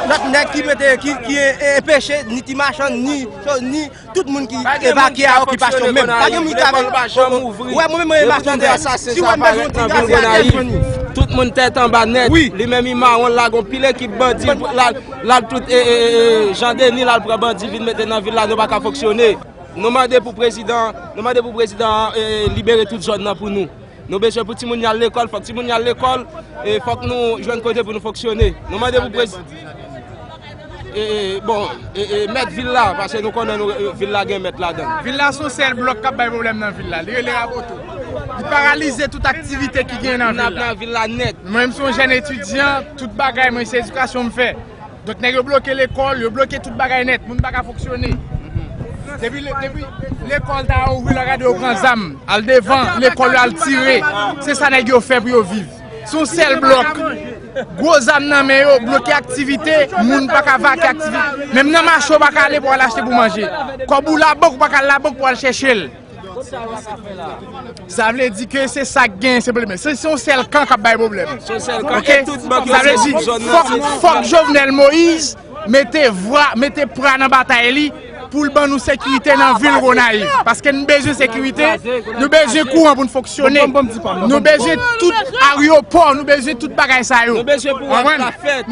Lòt nèg ki mete, ki enpeche, ni ti machann, ni chòz, ni tout moun ki evakye a okipasyon menm. Pa gen moun ki avèk machann moun ouvri. Wè mwen menm machann de sa, si wè mwen joun ti gazè a kèk joun ni. Tout moun tèt anba nèt, li menm i mawon la gon pil ekip bandi la tout e e e jan de ni la pran bandi vin mete nan vil la nou pa ka foksyone. Nou mande pou prezidan, nou mande pou prezidan libere tout zòn nan pou nou. Nou bezwen pou timoun yo al lekòl, fòk timoun yo al lekòl, e fòk nou jwenn kote pou nou fonksyone. Nou mande pou prezidan Jovenel Moïse Ladenyè di sa depi yon semèn. E bon, e mèt vil la, pase nou konnen nou vil la gen mèt ladan l. Vil la son sèl blòk k ap bay pwoblèm nan vil la. Li rele Raboto. Li paralize tout aktivite ki genyen nan vil la. Li kidnap nan vil la nèt. Mwen menm se yon jèn etidyan, tout bagay mwen se edikasyon m fè. Donk nèg yo bloke lekòl, yo bloke tout bagay nèt, moun pa ka fonksyone. Depi lekòl ta ouvri lè w gade yo pran zam, al devan lekòl yo al tire. Se sa nèg yo fè pou yo viv. Se yon sèl blòk. Gwo zam nan men yo, bloke aktivite, moun pa ka vake aktivite. Menm nan mache ou pa ka ale pou al achte pou manje. Kòb ou labank ou pa ka al labank pou al chèche l. Sa vle di ke se sak gen se pwoblèm. Se yon sèl kan kap bay pwoblèm. Sa vle di fòk Jovenel Moïse mete vwa, mete pra nan batay li pou l ban nou sekirite nan vil Gonayiv. Paske nou bezwen sekirite, nou bezwen kouran pou nou fonksyone, nou bezwen tout aryopò, nou bezwen tout bagay sa yo. Nou bezwen pou wòch la fèt.